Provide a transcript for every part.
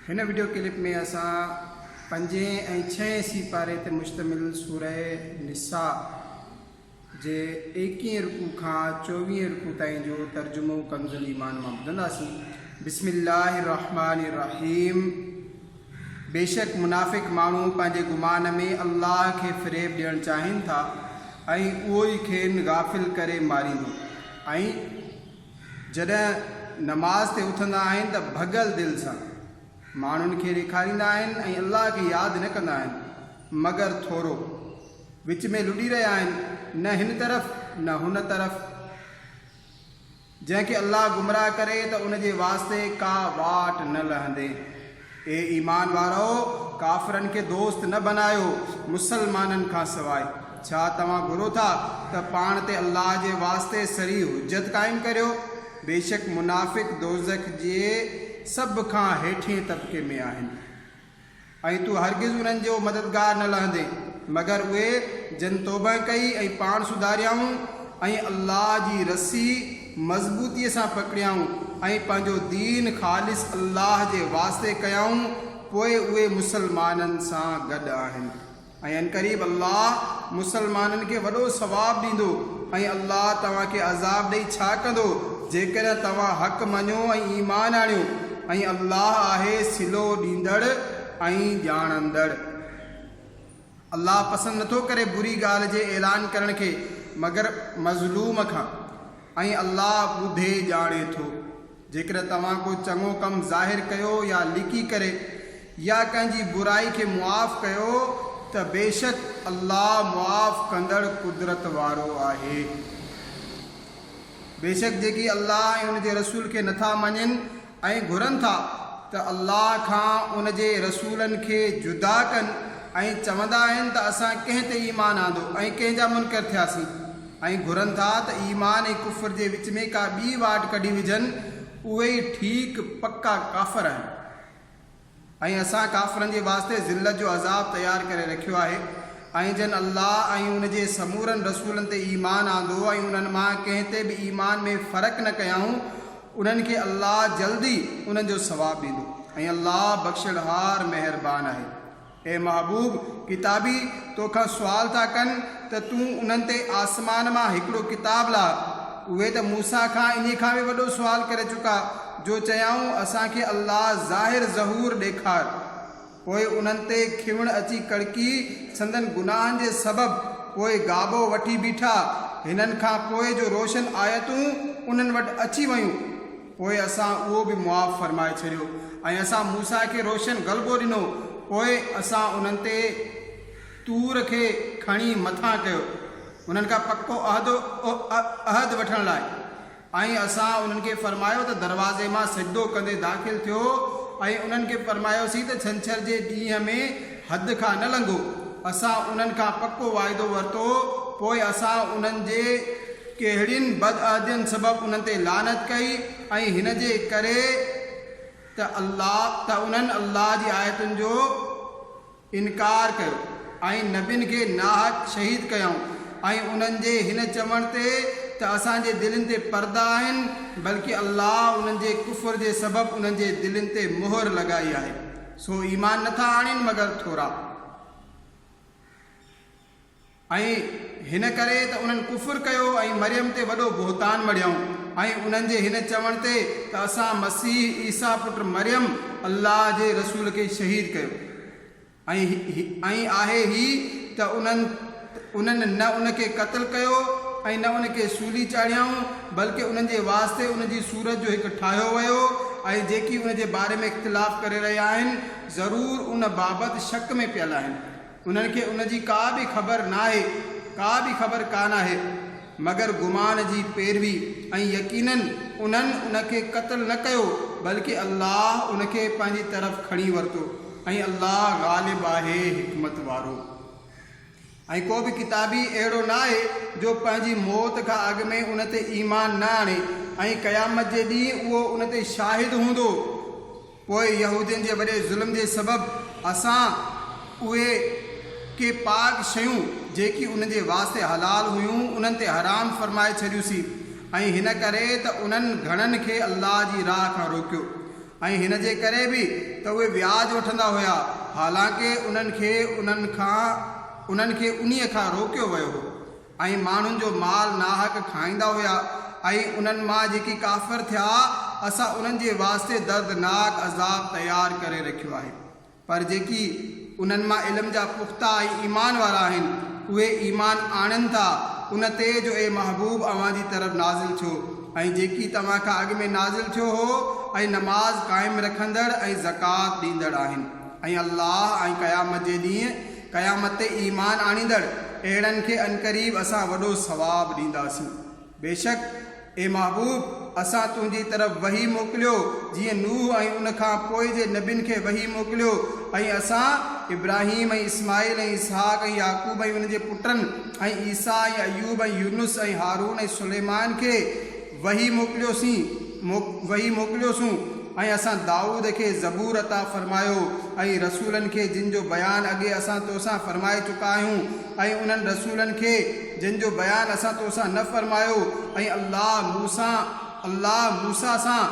هن video clip ۾ اسان پنجين ۽ ڇهين سي پاري تي مشتمل سوره نساء جي ايڪيهين رڪوع کان چوويهين رڪوع تائين جو ترجمو ڪنز الايمان مان ٻڌنداسين بسم الله الرحمن الرحيم بيشڪ منافق ماڻهو پنهنجي گمان ۾ الله کي فريب ڏيڻ چاهين ٿا ۽ اهو ئي کين غافل ڪري ماريندو ۽ جڏهن نماز تي اٿندا آهن ته ڀڳل دل سان ماڻهن کي ڏيکاريندا آهن ۽ الله کي ياد نه ڪندا آهن مگر ٿورو. وچ ۾ لڏي رهيا آهن نه هن طرف نه هن طرف. جنهن کي الله گمراهه ڪري ته ان جي واسطي ڪا واٽ نه لهندي. اي ايمان وارؤ! ڪافرن کي دوست نه بنايو مسلمانن کان سواء. ڇا توهان گهرو ٿا ته پاڻ تي الله جي واسطي صريح حجت قائم ڪريو؟ بيشڪ منافق دوزخ جي سڀ کان هيٺئين طبقي ۾ آهن ۽ تون هرگز انهن جو مددگار نه لهندين مگر اهي جن توبهه ڪئي ۽ پاڻ سڌاريائون ۽ الله جي رسي مضبوطيء سان پڪڙيائون ۽ پنهنجو دين خالص الله جي واسطي ڪيائون، پوء اهي مسلمانن سان گڏ آهن ۽ عنقريب الله مسلمانن کي وڏو ثواب ڏيندو ۽ الله توهان کي عذاب ڏئي ڇا ڪندو جيڪڏهن توهان حق مڃو ۽ ايمان آڻيو ۽ الله آهي صلو ڏيندڙ ۽ ڄاڻندڙ. الله پسند نٿو ڪري بري ڳالهه جي اعلان ڪرڻ کي مگر مظلوم کان ۽ الله ٻڌي ڄاڻي ٿو جيڪڏهن توهان ڪو چڱو ڪم ظاهر ڪيو يا لڪي ڪري يا ڪنهن جي برائي کي معاف ڪيو ته بيشڪ الله معاف ڪندڙ قدرت وارو آهي بيشڪ جيڪي الله ۽ ان جي رسول کي نٿا مڃين ۽ گهرن ٿا ته الله کان ان جي رسولن کي جدا ڪن ۽ چوندا آهن ته اسان ڪنهن تي ايمان آندو ۽ ڪنهن جا منڪر ٿياسين ۽ گهرن ٿا ته ايمان ۽ ڪفر جي وچ ۾ ڪا ٻي واٽ ڪڍي وجهن اهي ئي ٺيڪ پڪا ڪافر آهن. ۽ اسان ڪافرن جي واسطي ذلت جو عذاب تيار ڪري رکيو آهي ۽ جن الله ۽ ان جي سمورن رسولن تي ايمان آندو ۽ انهن مان ڪنهن تي به ايمان ۾ فرق نه ڪيائون انهن کي الله جلد ئي انهن جو ثواب ڏيندو ۽ الله بخشڻهار مهربان آهي. اي محبوب! ڪتابي تو کان سوال ٿا ڪن ته تون انهن تي آسمان مان هڪڙو ڪتاب لاء. اهي ته موسيٰ کان انهي کان به وڏو سوال ڪري چڪا جو چيائون اسان کي الله ظاهر ظهور ڏيکار. پوء انهن تي کيوڻ اچي ڪڙڪي سندن گناهن جي سبب پوء گابو وٺي بيٺا. هنن کان پوء جو روشن آيتون انهن وٽ اچي ويون. پوء اسان اهو به معاف فرمائي ڇڏيو ۽ اسان موسيٰ کي روشن غلبو ڏنو پوء اسان انهن تي طور کي کڻي مٿان ڪيو انهن کان پڪو عهد عهد وٺڻ لاء ۽ اسان انهن کي فرمايو ته دروازي مان سجدو ڪندي داخل ٿيو ۽ انهن کي فرمايوسين ته ڇنڇر جي ڏينهن ۾ حد کان نه لنگهو اسان انهن کان پڪو واعدو ورتو پوء اسان انهن جي ڪهڙين بدعهدين سبب انهن تي لعنت ڪئي ۽ هن جي ڪري ته الله ته انهن الله جي آيتن جو انڪار ڪيو ۽ نبين کي ناحق شهيد ڪيائون ۽ انهن جي هن چوڻ تي ته اسان جي دلين تي پردا آهن بلڪه الله انهن جي ڪفر جي سبب انهن جي دلين تي مهر لڳائي آهي سو ايمان نٿا آڻين مگر ٿورا. ۽ هن ڪري ته انهن ڪفر ڪيو ۽ مريم تي وڏو بهتان مڙهيائون ۽ انهن جي هن چوڻ تي ته اسان مسيح عيسيٰ پٽ مريم الله جي رسول کي شهيد ڪيو ۽، ۽ آهي هي ته انهن، انهن نه ان کي قتل ڪيو ۽ نه ان کي سولي چاڙهيائون، بلڪه انهن جي واسطي ان جي صورت جو هڪ ٺاهيو ويو ۽ جيڪي ان جي باري ۾ اختلاف ڪري رهيا آهن، ضرور ان بابت شڪ ۾ پيل آهن. انهن کي ان جي ڪا به خبر ناهي، ڪا به خبر ڪا ناهي، مگر گمان جي پيروي ۽ يقيناً انهن ان کي قتل نه ڪيو بلڪه الله ان کي پنهنجي طرف کڻي ورتو ۽ الله غالب آهي حڪمت وارو ۽ ڪو به ڪتابي اهڙو ناهي جو پنهنجي موت کان اڳ ۾ ان تي ايمان نه آڻي ۽ قيامت جي ڏينهن اهو ان تي شاهد هوندو. پوء يهودين جي وڏي ظلم جي سبب اسان اهي ڪي پاڪ شيون جيڪي انهن جي واسطي حلال هيون انهن تي حرام فرمائي ڇڏيوسين ۽ هن ڪري ته انهن گهڻن کي الله جي راهه کان روڪيو ۽ هن جي ڪري به ته اهي وياج وٺندا هيا حالانڪه انهن کي انهن کان انهن کي انهيء کان روڪيو ويو هو ۽ ماڻهن جو مال ناحق کائيندا هيا ۽ انهن مان جيڪي ڪافر ٿيا اسان انهن جي واسطي دردناڪ عذاب تيار ڪري رکيو آهي پر جيڪي انهن مان علم جا پختا ۽ ايمان وارا آهن اهي ايمان آڻين ٿا ان تي جو اي محبوب اوهان جي طرف نازل ٿيو ۽ جيڪي توهان کان اڳ ۾ نازل ٿيو هو ۽ نماز قائم رکندڙ ۽ زڪوات ڏيندڙ آهن ۽ الله ۽ قيامت جي ڏينهن قيامت تي ايمان آڻيندڙ اهڙن کي عنقريب اسان وڏو ثواب ڏينداسين. بيشڪ، اي محبوب! اسان تنهنجي طرف وحي موڪليو جيئن نوح ۽ ان کان پوء جي نبين کي وحي موڪليو ۽ اسان ابراهيم ۽ اسماعيل ۽ اسحاق ۽ يعقوب ۽ انهن جي پٽن ۽ عيسيٰ ۽ ايوب ۽ يونس ۽ هارون ۽ سليمان کي وحي موڪليوسين، وحي موڪليوسون، ۽ اسان دائود کي زبور عطا فرمايو، ۽ رسولن کي جن جو بيان اڳي اسان تو سان فرمائي چڪا آهيون، ۽ انهن رسولن کي جن جو بيان اسان تو سان نه فرمايو، ۽ الله موسيٰ، الله موسيٰ سان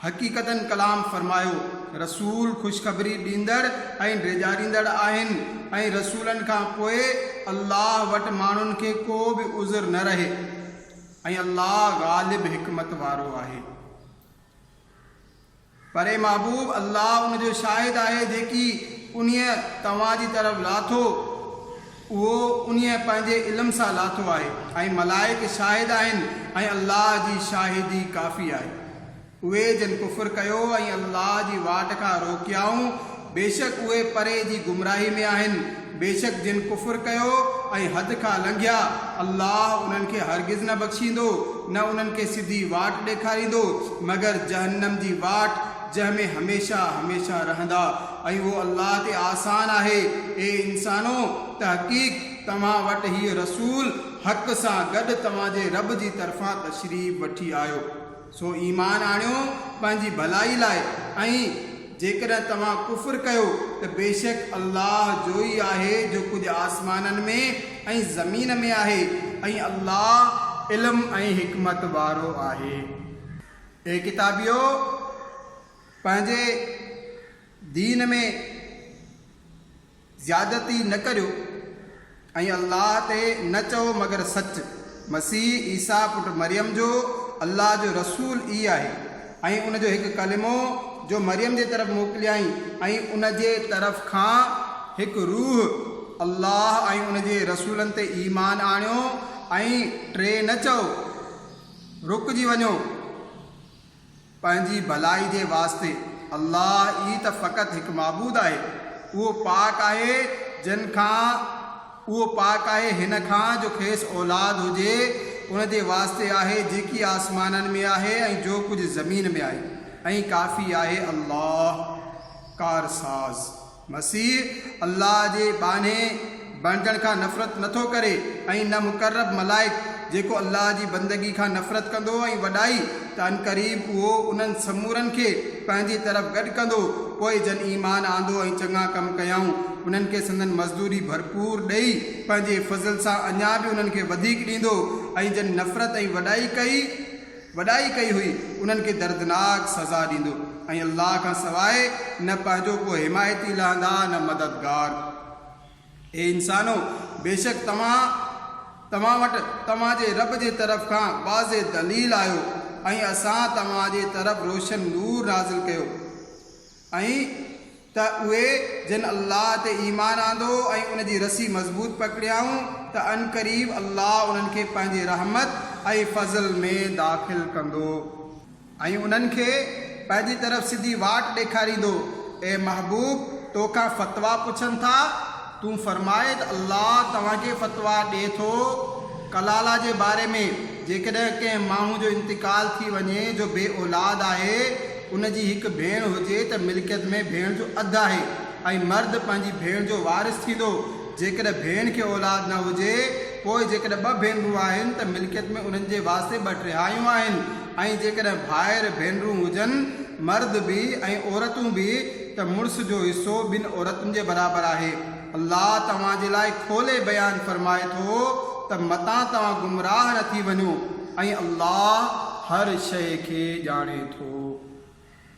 حقيقتاً ڪلام فرمايو. رسول خوشخبري ڏيندڙ ۽ ڊيڄاريندڙ آهن، ۽ رسولن کان پوء الله وٽ ماڻهن کي ڪو به عذر نه رهي. ۽ الله غالب حڪمت وارو آهي. پر اي محبوب! الله ان جو شاهد آهي جيڪي انهيء توهان جي طرف لاٿو، اهو انهيء پنهنجي علم سان لاٿو آهي، ۽ ملائڪ شاهد آهن، ۽ الله جي شاهدي ڪافي آهي. اهي جن ڪفر ڪيو ۽ الله جي واٽ کان روڪيائون، بيشڪ اهي پري جي گمراهي ۾ آهن. بيشڪ جن ڪفر ڪيو ۽ حد کان لنگهيا، الله انهن کي هرگز نه بخشيندو، نه انهن کي سڌي واٽ ڏيکاريندو، مگر جهنم جي واٽ، جنهن ۾ هميشه هميشه رهندا. ۽ اهو الله تي آسان آهي. اي انسانو! تحقيق توهان وٽ هيء رسول حق سان گڏ توهان جي رب جي طرفان تشريف وٺي آيو. سو ايمان آڻيو پنهنجي ڀلائي لاء ۽ جيڪڏهن توهان ڪفر ڪيو ته بيشڪ الله جو ئي آهي جو ڪجهه آسمانن ۾ ۽ زمين ۾ آهي ۽ الله علم ۽ حڪمت وارو آهي. اي ڪتابيؤ! پنهنجي دين ۾. زيادتي نه ڪريو ۽ الله تي نه چئو مگر سچ، مسيح عيسيٰ پٽ مريم جو الله جو رسول ئي آهي ۽ ان جو هڪ ڪلمو جو مريم جي طرف موڪليائين ۽ ان جي طرف کان هڪ روح، الله ۽ ان جي رسولن تي ايمان آڻيو ۽ ٽي نه چئو، رڪجي وڃو. پنهنجي ڀلائي جي واسطي. الله ئي ته فقط هڪ معبود آهي. اهو پاڪ آهي جن کان، اهو پاڪ آهي هن کان جو کيس اولاد هجي، ان جي واسطي آهي جيڪي آسمانن ۾ آهي ۽ جو ڪجهه زمين ۾ آهي ۽ ڪافي آهي الله ڪارساز. مسيح الله جي ٻانهي بڻجڻ کان نفرت نه ٿو ڪري ۽ نه مقرب ملائڪ، جيڪو الله جي بندگي کان نفرت ڪندو ۽ وڏائي ته عنقريب اهو انهن سمورن کي پنهنجي طرف گڏ ڪندو، پوء جن ايمان آندو ۽ چڱا ڪم ڪيائون انهن کي سندن مزدوري ڀرپور ڏئي پنهنجي فضل سان اڃا به انهن کي وڌيڪ ڏيندو ۽ جن نفرت ۽ وڏائي ڪئي. وڏائي ڪئي هئي انهن کي دردناڪ سزا ڏيندو ۽ الله کان سواء نه پنهنجو ڪو حمايتي لهندا نه مددگار. اي انسانو! بيشڪ توهان توهان وٽ توهان جي رب جي طرف کان واضح دليل آيو ۽ اسان توهان جي طرف روشن نور نازل ڪيو. ائين ته اهي جن الله تي ايمان آندو ۽ ان جي رسي مضبوط پڪڙيائون ته عنقريب الله انهن کي پنهنجي رحمت ۽ فضل ۾ داخل ڪندو ۽ انهن کي پنهنجي طرف سڌي واٽ ڏيکاريندو، اي محبوب! تو کان فتويٰ پڇن ٿا، تون فرماء ته الله توهان کي فتويٰ ڏئي ٿو ڪلالا جي باري ۾، جيڪڏهن ڪنهن ماڻهو جو انتقال ٿي وڃي جو بي اولاد آهي، ان جي هڪ ڀيڻ هجي ته ملڪيت ۾ ڀيڻ جو اڌ آهي ۽ مرد پنهنجي ڀيڻ جو وارث ٿيندو. جيڪڏهن ڀيڻ کي اولاد نه هجي، پوء جيڪڏهن ٻه ڀينرون آهن ته ملڪيت ۾ انهن جي واسطي ٻه ٽيهايون آهن ۽ جيڪڏهن ڀائر ڀينرون هجن، مرد به ۽ عورتون به، ته مڙس جو حصو ٻن عورتن جي برابر آهي. الله توهان جي لاء کولي بيان فرمائي ٿو ته متان توهان گمراهه نه ٿي وڃو ۽ الله هر شيء کي ڄاڻي ٿو.